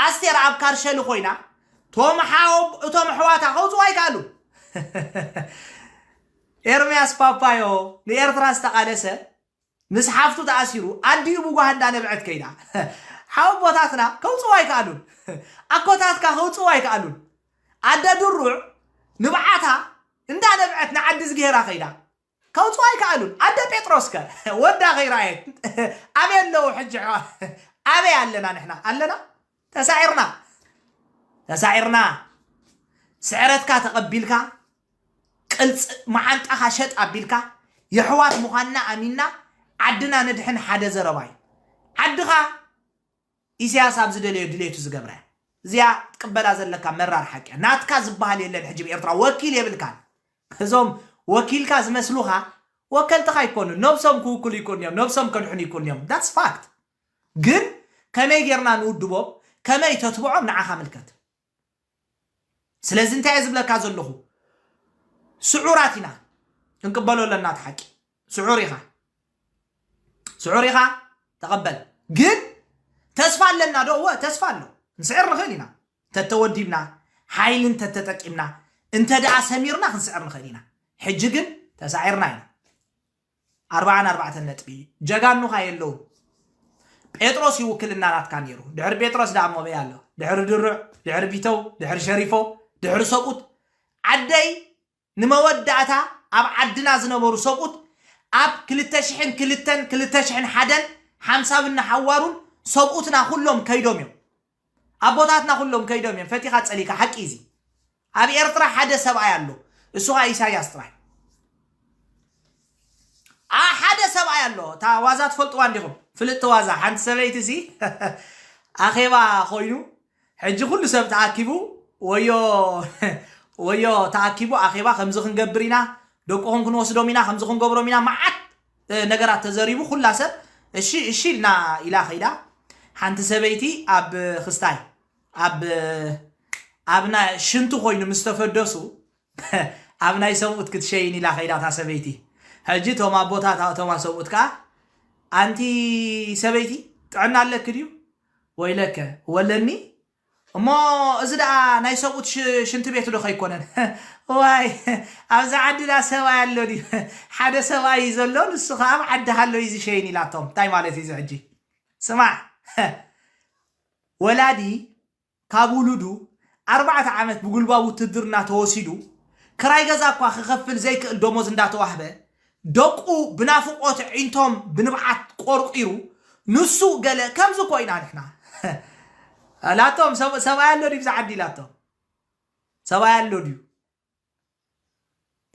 ኣስቴር ኣብ ካርሸሊ ኮይና ቶም ሓው እቶም ኣሕዋታ ከውፅኡ ኣይከኣሉን። ኤርምያስ ፓፓዮ ንኤርትራ ዝተቓለሰ ምስ ሓፍቱ ተኣሲሩ ኣዲኡ ብጓሂ እንዳነብዐት ከይዳ ሓወቦታትና ከውጽእዎ ኣይከኣሉን ኣኮታትካ ከውጽእዎ ኣይከኣሉን ኣደ ድሩዕ ንብዓታ እንዳነብዐት ንዓዲዝግሄራ ከይዳ ከውጽእዎ ኣይከኣሉን ኣደ ጴጥሮስከ ወዳ ከይረኣየት ኣበይ ኣለዉ ሕጂ ኣበይ ኣለና ንሕና ኣለና ተሳዒርና ተሳዒርና ስዕረትካ ተቐቢልካ ቅልፅ መዓንጣኻ ሸጥ ኣቢልካ የሕዋት ምዃንና ኣሚንና ዓድና ነድሕን ሓደ ዘረባ እዩ ዓድኻ ኢሳያስ ኣብ ዝደለዮ ድሌቱ ዝገብራ እያ እዚኣ ትቅበላ ዘለካ መራር ሓቂ እያ። ናትካ ዝበሃል የለን ሕጂ ብኤርትራ ወኪል የብልካን እዞም ወኪልካ ዝመስሉኻ ወከልትኻ ይኮኑ ነብሶም ክውክሉ ይኮኑ እዮም ነብሶም ከድሕኑ ይኮኑ እዮም ዳትስ ፋክት ግን ከመይ ጌርና ንውድቦም ከመይ ተትብዖም ንዓኻ ምልከት ስለዚ እንታይ እየ ዝብለካ ዘለኹ ስዑራት ኢና ክንቅበሎ ኣለና እቲ ሓቂ ስዑር ኢኻ ስዑር ኢኻ ተቐበል ግን ተስፋ ኣለና ዶ እወ ተስፋ ኣሎ ንስዕር ንኽእል ኢና ተተወዲብና ሓይሊ እንተተጠቂምና እንተ ደኣ ሰሚርና ክንስዕር ንኽእል ኢና ሕጂ ግን ተሳዒርና ኢና ኣርብዓን ኣርባዕተን ነጥቢ ጀጋኑኻ የለውን ጴጥሮስ እዩ ውክልና ናትካ ነይሩ ድሕሪ ጴጥሮስ ደኣ ሞበይ ኣሎ ድሕሪ ድሩዕ ድሕሪ ቢተው ድሕሪ ሸሪፎ ድሕሪ ሰብኡት ዓደይ ንመወዳእታ ኣብ ዓድና ዝነበሩ ሰብኡት ኣብ ክልተ ሽሕን ክልተን ክልተ ሽሕን ሓደን ሓምሳብን ንሓዋሩን ሰብኡትና ኩሎም ከይዶም እዮም ኣቦታትና ኩሎም ከይዶም እዮም ፈቲካ ጸሊካ ሓቂ እዩ እዚ ኣብ ኤርትራ ሓደ ሰብኣይ ኣሎ እሱ ከኣ ኢሳያስ ጥራይ ኣ ሓደ ሰብኣይ ኣሎ እታ ዋዛ ትፈልጥዋ እንዲኹም ፍልጥቲ ዋዛ ሓንቲ ሰበይቲ ሲ ኣኼባ ኮይኑ ሕጂ ኩሉ ሰብ ተኣኪቡ ወዮ ወዮ ተኣኪቡ ኣኼባ ከምዚ ክንገብር ኢና ደቁኹም ክንወስዶም ኢና ከምዚ ክንገብሮም ኢና መዓት ነገራት ተዘሪቡ ኩላ ሰብ እሺ እሺ ኢልና ኢላ ከይዳ ሓንቲ ሰበይቲ ኣብ ክስታይ ኣብ ኣብ ናይ ሽንቲ ኮይኑ ምስ ተፈደሱ ኣብ ናይ ሰብኡት ክትሸይን ኢላ ከይዳ እታ ሰበይቲ ሕጂ እቶም ኣቦታት እቶም ሰብኡት ከዓ ኣንቲ ሰበይቲ ጥዕና ኣለኪ ድዩ ወይለከ ወለኒ እሞ እዚ ደኣ ናይ ሰብኡት ሽንቲ ቤት ዶ ከይኮነን እዋይ ኣብዛ ዓዲ ደኣ ሰብኣይ ኣሎ ድዩ ሓደ ሰብኣይ እዩ ዘሎ ንሱ ከኣ ኣብ ዓዲ ሃሎ እዩ ዝሸይን ኢላቶም እንታይ ማለት እዩ እዚ ሕጂ ስማዕ ወላዲ ካብ ውሉዱ ኣርባዕተ ዓመት ብጉልባብ ውትድርና ተወሲዱ ክራይ ገዛ እኳ ክኸፍል ዘይክእል ደሞዝ እንዳተዋህበ ደቁ ብናፍቆት ኣዒንቶም ብንብዓት ቆርቂሩ ንሱ ገለ ከምዚ ኮይና ንሕና እላቶም ሰብ ሰብኣይ ኣሎ ድዩ ብዛ ዓዲ ኢላቶም ሰብኣይ ኣሎ ድዩ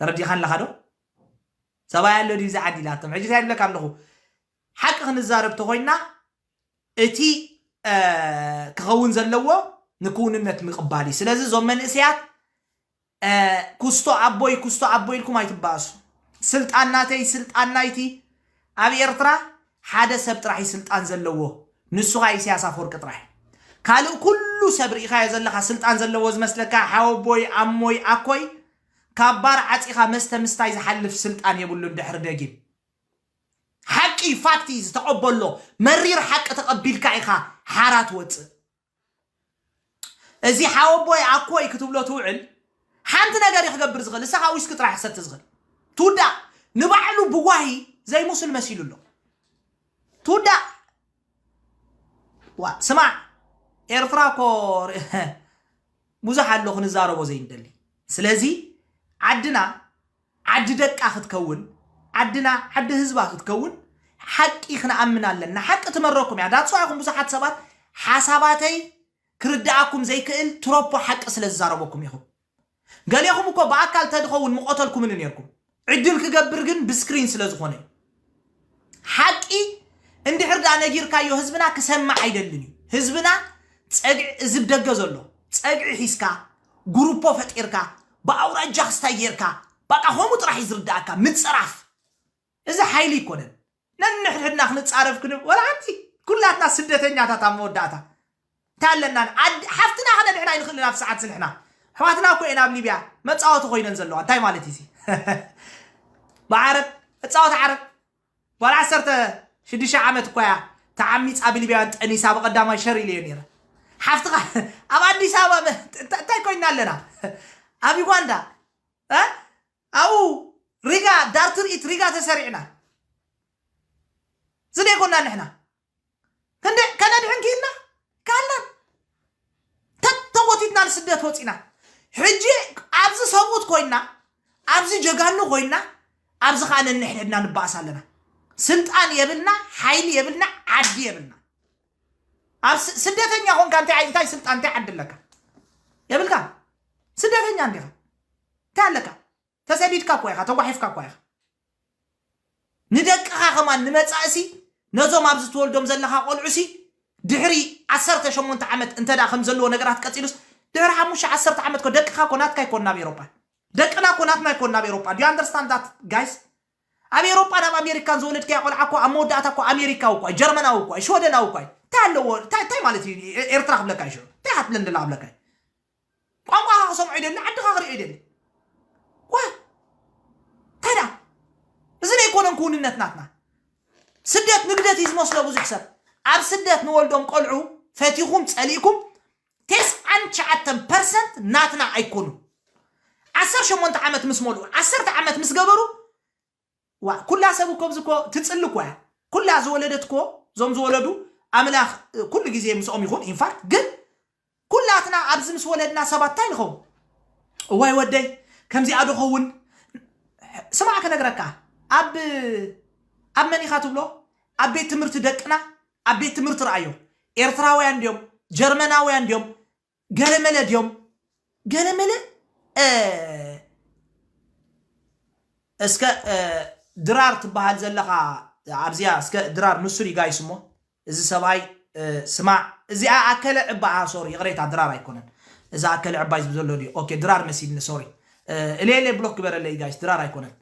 ተረዲኻን ኣለኻ ዶ ሰብኣይ ኣሎ ድዩ ብዛ ዓዲ ኢላቶም ሕጂ እንታይ ይብለካ ኣለኹ ሓቂ ክንዛረብ ተኾይንና እቲ እ፣ ክኸውን ዘለዎ ንክውንነት ምቕባል እዩ ስለዚ እዞም መንእሰያት ኩስቶ ኣቦይ ኩስቶ ኣቦይ ኢልኩም ኣይትባኣሱ ስልጣን ናተይ ስልጣን ናይቲ ኣብ ኤርትራ ሓደ ሰብ ጥራሕ እዩ ስልጣን ዘለዎ ንሱ ካኣ ኢሰያስ ኣፎርቂ ጥራሕ እዩ ካልእ ኩሉ ሰብ ሪኢካዮ ዘለካ ስልጣን ዘለዎ ዝመስለካ ሓወቦይ ኣሞይ ኣኮይ ካብ ባር ዓጺካ መስተ ምስታይ ዝሓልፍ ስልጣን የብሉን ድሕሪ ደጊም ሓቂ እዩ ፋክት እዩ እዚ ተቀበሎ መሪር ሓቂ ተቀቢልካ ኢካ ሓራ ትወጽእ እዚ ሓወቦይ ኣኮይ ክትብሎ ትውዕል ሓንቲ ነገር እዩ ክገብር ዝኽእል ንሳኻ ዊስኪ ጥራሕ ክሰቲ ዝኽእል ትውዳእ ንባዕሉ ብዋሂ ዘይሙስል መሲሉ ኣሎ ትውዳእ ዋ ስማዕ ኤርትራ እኮ ር- ብዙሕ ኣሎ ክንዛረቦ ዘይንደሊ ስለዚ ዓድና ዓዲ ደቃ ክትከውን ዓድና ዓዲ ህዝባ ክትከውን ሓቂ ክንኣምን ኣለና ሓቂ ትመረኩም እያ ዳትስ ዋይ ኢኩም ብዙሓት ሰባት ሓሳባተይ ክርድኣኩም ዘይክእል ትሮፖ ሓቂ ስለ ዝዛረበኩም ኢኩም ገሌኩም እኮ ብኣካል ተድከውን ምቆተልኩምኒ ኔርኩም ዕድል ክገብር ግን ብስክሪን ስለ ዝኮነ እዩ ሓቂ እንድሕር ድኣ ነጊርካዮ ህዝብና ክሰምዕ ኣይደልን እዩ። ህዝብና ጸግዒ እዚ ብ ደገ ዘሎ ጸግዒ ሒዝካ ጉሩፖ ፈጢርካ ብኣውራጃ ክስታይ ጌርካ በቃ ከምኡ ጥራሕ እዩ ዝርድኣካ ምጽራፍ እዚ ሓይሊ ኣይኮነን። ነንሕድሕድና ክንጻረፍ ክንብ ወላ ሓንቲ ኩላትና ስደተኛታት ኣብ መወዳእታ ታለናን ዓዲ ሓፍትና ክነድሕን ኣይንኽእልን ኣብቲ ሰዓት እዚ ንሕና ኣሕዋትና እኮ እየን ኣብ ሊብያ መጻወቲ ኮይነን ዘለዋ እንታይ ማለት እዩ ብዓረብ እጻወት ዓረብ ጓል ዓሰርተ ሽዱሽተ ዓመት እኳ እያ ተዓሚጻ ብሊብያውያን ጠኒሳ ብቐዳማይ ሸር ኢለዮ ነይረ ሓፍትኻ ኣብ ኣዲስ ኣበባ እንታይ ኮይና ኣለና ኣብ ዩጋንዳ ኣብኡ ሪጋ ዳር ትርኢት ሪጋ ተሰሪዕና ዝደይኮና ንሕና ክንደይ ከነድሕን ክኢልና ካለን ተጎቲትና ንስደት ወፂና ሕጂ ኣብዚ ሰብኡት ኮይና ኣብዚ ጀጋኑ ኮይና ኣብዚ ከዓ ነንሕድሕድና ንባእስ ኣለና ስልጣን የብልና ሓይሊ የብልና ዓዲ የብልና ኣብ ስ- ስደተኛ ኮንካ እንታይ ዓይ- እንታይ ስልጣን እንታይ ዓዲ ኣለካ የብልካ ስደተኛ እንዲኻ እንታይ ኣለካ ተሰዲድካ እኳ ኢኻ ተጓሒፍካ እኳ ኢኻ ንደቅኻ ከማን ንመጻእሲ ነዞም ኣብዚ ትወልዶም ዘለኻ ቆልዑሲ ድሕሪ ዓሰርተ ሸሞንተ ዓመት እንተ ከምዚ ዘለዎ ነገራት ቀጺሉስ ድሕሪ ሓሙሽተ ዓሰርተ ዓመት ኮ ደቅኻ ኮ ናትካ ኣይኮን ናብ ኤሮጳ ደቅና ኮ ናትና ኣይኮን ናብ ኤሮጳ ዱ ኣንደርስታንድ ዳት ጋይስ ኣብ ኤሮጳን ኣብ ኣሜሪካን ዝወለድካያ ቆልዓ እኮ ኣብ መወዳእታ እኮ ኣሜሪካዊ እኳ ጀርመናዊ እኳ ሽወደናዊ እኳ እንታይ ኣለዎ እንታይ ማለት እዩ ኤርትራ ክብለካ እዩ ሽዑ እንታይ ሃትለንድና ክብለካ እዩ ቋንቋኻ ክሰምዖ ይደሊ ዓድኻ ክሪኦ ይደሊ ዋይ ታይ ደኣ እዚ ዶ ኣይኮነን ክውንነት ናትና ስደት ንግደት እዩ ዝመስሎ ብዙሕ ሰብ ኣብ ስደት ንወልዶም ቆልዑ ፈቲኹም ጸሊእኩም ቴስዓን ትሽዓተን ፐርሰንት ናትና ኣይኮኑን ዓሰርተ ሸሞንተ ዓመት ምስ መልኡ ዓሰርተ ዓመት ምስ ገበሩ ዋእ ኩላ ሰብ እኮ እብዚ እኮ ትጽሊ እኮ እያ ኩላ ዝወለደት እኮ እዞም ዝወለዱ ኣምላክ ኩሉ ግዜ ምስኦም ይኩን ኢንፋክት ግን ኩላትና ኣብዚ ምስ ወለድና ሰባት እንታይ ንከውን እዋይ ወደይ ከምዚኣ ዶ ከውን ስማዕ ክነግረካ ኣብ ኣብ መን ኢካ ትብሎ ኣብ ቤት ትምህርቲ ደቅና ኣብ ቤት ትምህርቲ ረኣዮ ኤርትራውያን ድዮም ጀርመናውያን ድዮም ገለመለ ድዮም ገለመለ እስከ ድራር ትበሃል ዘለኻ ኣብዚኣ እስከ ድራር ንሱር ይጋይስ እሞ እዚ ሰብኣይ ስማዕ እዚኣ ኣከለ ዕባኣ ሶሪ ይቕሬታ ድራር ኣይኮነን እዚ ኣከለ ዕባይ ዝብ ዘሎ ድዩ ኦኬ ድራር መሲልኒ ሶሪ እሌሌ ብሎክ ግበረለይ ጋይስ ድራር ኣይኮነን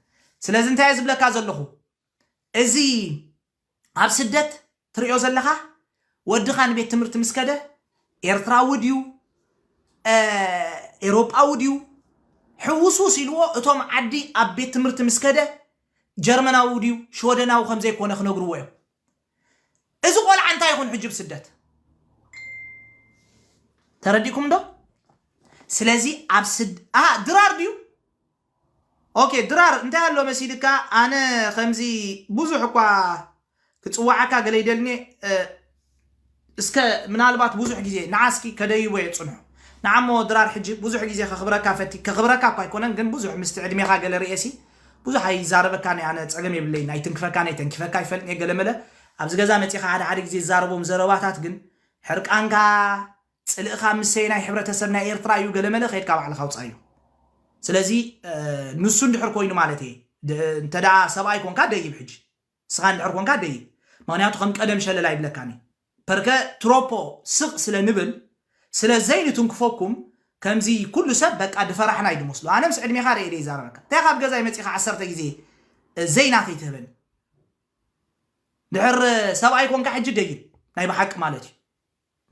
ስለዚ እንታይ ዝብለካ ዘለኹ እዚ ኣብ ስደት ትሪኦ ዘለኻ ወድኻ ንቤት ትምህርቲ ምስ ከደ ኤርትራዊ ድዩ ኤሮጳዊ ድዩ ሕውስውስ ኢልዎ እቶም ዓዲ ኣብ ቤት ትምህርቲ ምስ ከደ ጀርመናዊ ድዩ ሽወደናዊ ከም ዘይኮነ ክነግርዎ እዮም እዚ ቆልዓ እንታይ ይኹን ሕጂ ብስደት ተረዲእኩም ዶ ስለዚ ኣብ ስድ ድራር ድዩ ኦኬ ድራር እንታይ ኣሎ መሲልካ ኣነ ከምዚ ብዙሕ እኳ ክጽዋዓካ ገለ ይደልኒ እስከ ምናልባት ብዙሕ ግዜ ንዓ እስኪ ከደይቦ እየ ጽንሑ ንዓ እሞ ድራር ሕጂ ብዙሕ ግዜ ከኽብረካ ፈቲ ከኽብረካ እኳ ኣይኮነን ግን ብዙሕ ምስቲ ዕድሜኻ ገለ ርእየሲ ብዙሕ ኣይዛረበካን እየ ኣነ ጸገም የብለይን ኣይትንክፈካን እየ ተንኪፈካ ኣይፈልጥን እየ ገለመለ ኣብዚ ገዛ መጺኻ ሓደ ሓደ ግዜ ዝዛረቦም ዘረባታት ግን ሕርቃንካ ጽልእኻ ምሰየናይ ሕብረተሰብ ናይ ኤርትራ እዩ ገለመለ ከድካ ባዕልኻ ኣውጻዮ ስለዚ ንሱ እንድሕር ኮይኑ ማለት እየ እንተ ሰብኣይ ኮንካ ደይብ ሕጂ ንስኻ እንድሕር ኮንካ ደይብ ምክንያቱ ከም ቀደም ሸለል ኣይብለካን እዩ ፐርከ ትሮፖ ስቕ ስለ ንብል ስለ ዘይንትንክፈኩም ከምዚ ኩሉ ሰብ በቃ ድፈራሕና እዩ ድመስሎ ኣነ ምስ ዕድሜኻ ርእየ ደይ ዛረበካ እንታይ ካብ ገዛይ መጺኻ ዓሰርተ ግዜ ዘይና ከይትህበኒ ድሕር ሰብኣይ ኮንካ ሕጂ ደይብ ናይ ብሓቂ ማለት እዩ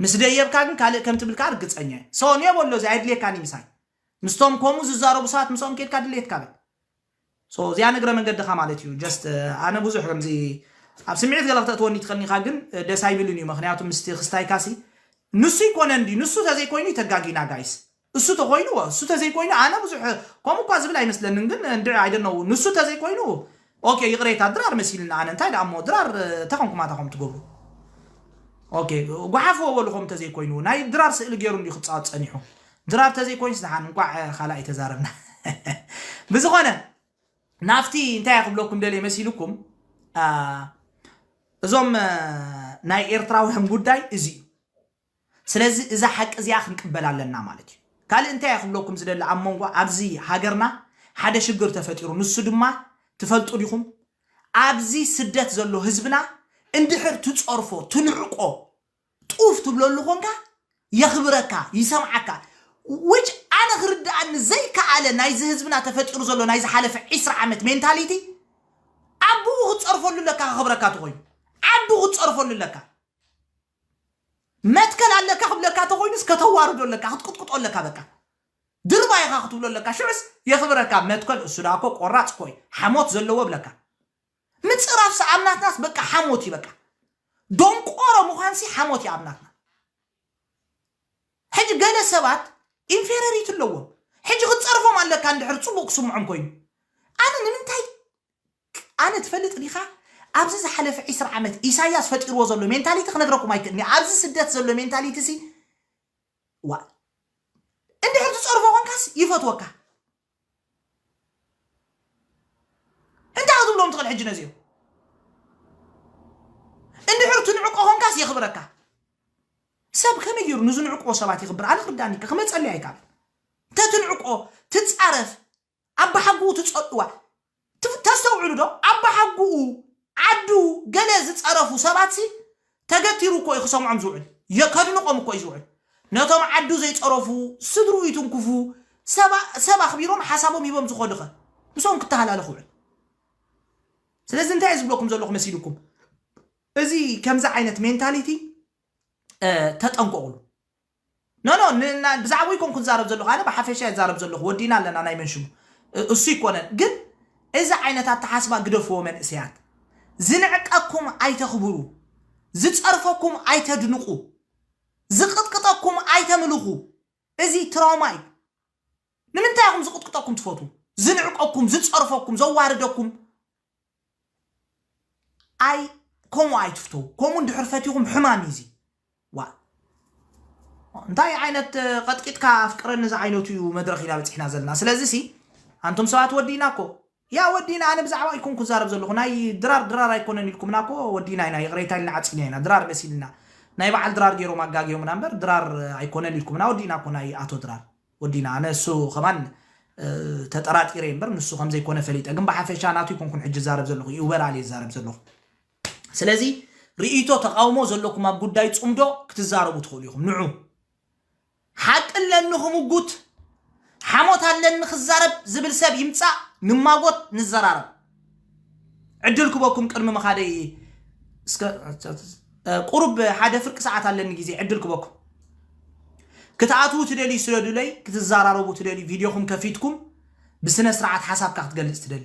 ምስ ደየብካ ግን ካልእ ከም ትብል ከኣ ርግጸኛ እየ ሰውንዮ በሎ እዚ ኣየድልየካን እዩ ምሳይ ምስቶም ኮሙ ዝዛረቡ ሰባት ምሳኦም ኬድካ ድሌትካ በል so እዚኣ ንግረ መንገድኻ ማለት እዩ just ኣነ ብዙሕ ከምዚ ኣብ ስምዒት ገለ ክተእትወኒ ትኸኒኻ ግን ደስ ኣይብልን እዩ ምክንያቱ ምስቲ ክስታይካሲ ንሱ ይኮነን ድዩ ንሱ ተዘይኮይኑ ተጋጊና ጋይስ እሱ ተኾይኑ እወ እሱ ተዘይኮይኑ ኣነ ብዙሕ ከምኡ እኳ ዝብል ኣይመስለንን ግን እንድዒ ኣይ ዶንት ኖው ንሱ ተዘይኮይኑ ኦኬ ይቕሬታ ድራር መሲልኒ ኣነ እንታይ ደኣ እሞ ድራር ተኸምኩ ማታ ከም ትገብሩ ኦኬ ጓሓፍዎ በሉ ከም ተዘይኮይኑ ናይ ድራር ስእሊ ገይሩ እንዲዩ ክጻወት ጸኒሑ ድራር ተዘይኮይንስ ደሓን እንቋዕ ካልኣይ ተዛረብና ብዝኾነ ናብቲ እንታይ ክብለኩም ደልየ መሲልኩም እዞም ናይ ኤርትራውያን ጉዳይ እዚ እዩ ስለዚ እዛ ሓቂ እዚኣ ክንቅበላ ኣለና ማለት እዩ። ካልእ እንታይ እየ ክብለኩም ዝደሊ ኣብ መንጎ ኣብዚ ሃገርና ሓደ ሽግር ተፈጢሩ ንሱ ድማ ትፈልጡ ዲኹም ኣብዚ ስደት ዘሎ ህዝብና እንድሕር ትጸርፎ ትንዕቆ ጡፍ ትብለሉ ኮንካ የኽብረካ ይሰምዓካ which ኣነ ክርድኣኒ ዘይከኣለ ናይዚ ህዝብና ተፈጢሩ ዘሎ ናይ ዝሓለፈ ዒስራ ዓመት ሜንታሊቲ ኣቡኡ ክትጸርፈሉ ኣለካ ከኽብረካ ተኾይኑ ዓዱ ክትጸርፈሉ ኣለካ መትከል ኣለካ ክብለካ ተኾይኑስ ከተዋርዶ ኣለካ ክትቅጥቅጦ ኣለካ በቃ ድርባይ ኢኻ ክትብሎ ኣለካ ሽዑስ የኽብረካ መትከል እሱ ደኣ እኮ ቆራጽ እኮ እዩ ሓሞት ዘለዎ እብለካ ምጽራፍሲ ኣብ ናትናስ በቃ ሓሞት እዩ በቃ ዶንቆሮ ምዃንሲ ሓሞት እዩ ኣብ ናትና ሕጂ ገለ ሰባት ኢንፌረሪቲ ኣለዎም ሕጂ ክትጸርፎም ኣለካ እንድሕር ጽቡቕ ክስምዖም ኮይኑ ኣነ ንምንታይ ኣነ ትፈልጥ ዲኻ ኣብዚ ዝሓለፈ ዕስራ ዓመት ኢሳያስ ፈጢርዎ ዘሎ ሜንታሊቲ ክነግረኩም ኣይክእልን እየ ኣብዚ ስደት ዘሎ ሜንታሊቲ ሲ ዋእ እንድሕር ትጸርፎ ኮንካስ ይፈትወካ እንታይ ክትብሎም ትኽእል ሕጂ ነዚኦም እንድሕር ትንዕቆ ኮንካስ የኽብረካ ሰብ ከመይ ገይሩ ንዝንዕቅዎ ሰባት የኽብር ኣነ ክርዳኣኒ ከ ክመጸለይ ኣይከኣልን ተትንዕቆ ትጻረፍ ኣባሓጉኡ ትጸልእዋ ተስተውዕሉ ዶ ኣባሓጉኡ ዓዱ ገለ ዝጸረፉ ሰባት ሲ ተገቲሩ እኮ እዩ ክሰምዖም ዝውዕል የከድንቆም እኮ እዩ ዝውዕል ነቶም ዓዱ ዘይጸረፉ ስድርኡ ይትንኩፉ ሰባ ሰብ ኣኽቢሮም ሓሳቦም ሂቦም ዝኸዱ ከ ምስኦም ክተሃላለኽ ውዕል ስለዚ እንታይ ዝብለኩም ዘለኹ መሲልኩም እዚ ከምዚ ዓይነት ሜንታሊቲ ተጠንቀቑሉ No no ን ን ብዛዕቡ ኣይኮንኩን ዝዛረብ ዘለኩ ኣነ ብሓፈሻ እየ ዝዛረብ ዘለኩ ወዲእና ኣለና ናይ መን ሽሙ እሱ ኣይኮነን ግን እዚ ዓይነት ኣተሓስባ ግደፍዎ መንእሰያት ዝንዕቀኩም ኣይተክብሩ ዝጸርፈኩም ኣይተድንቁ ዝቅጥቅጠኩም ኣይተምልኩ እዚ ትራውማ እዩ ንምንታይ ኢኩም ዝቅጥቅጠኩም ትፈትዉ ዝንዕቀኩም ዝጸርፈኩም ዘዋርደኩም ኣይ ከምኡ ኣይትፍተዉ ከምኡ እንድሕር ፈቲኹም ሕማም እዩ እዚ ዋ እንታይ ዓይነት ቀጥቂጥካ ኣፍቅረኒ ዝዓይነቱ እዩ መድረኽ ኢና በፂሕና ዘለና ስለዚ ሲ ኣንቶም ሰባት ወዲና እኮ ያ ወዲና ኣነ ብዛዕባ ኣይኮን ክዛረብ ዘለኹ ናይ ድራር ድራር ኣይኮነን ኢልኩምና እኮ ወዲና ኢና ይቕሬታ ኢልና ዓፂና ኢና ድራር መሲልና ናይ በዓል ድራር ገይሮም ኣጋጊዮምና እምበር ድራር ኣይኮነን ኢልኩምና ወዲና እኮ ናይ ኣቶ ድራር ወዲና ኣነ እሱ ከማን ተጠራጢረ እየ እምበር ንሱ ከም ዘይኮነ ፈሊጠ ግን ብሓፈሻ ናቱ ይኮንኩን ሕጂ ዛረብ ዘለኹ ይኡበራል እየ ዛረብ ዘለኹ ስለዚ ርእይቶ ተቃውሞ ዘለኩም ኣብ ጉዳይ ጽምዶ ክትዛረቡ ትኽእሉ ኢኹም ንዑ ሓቂ ኣለኒ ክምጉት ሓሞት ኣለኒ ክዛረብ ዝብል ሰብ ይምጻእ ንማጎት ንዘራረብ ዕድል ክበኩም ቅድሚ ምኻደይ እስከ ቁሩብ ሓደ ፍርቂ ሰዓት ኣለኒ ግዜ ዕድል ክበኩም ክትኣትዉ ትደልዩ ስለዱለይ ክትዘራረቡ ትደልዩ ቪድዮኹም ከፊትኩም ብስነ ስርዓት ሓሳብካ ክትገልጽ ትደሊ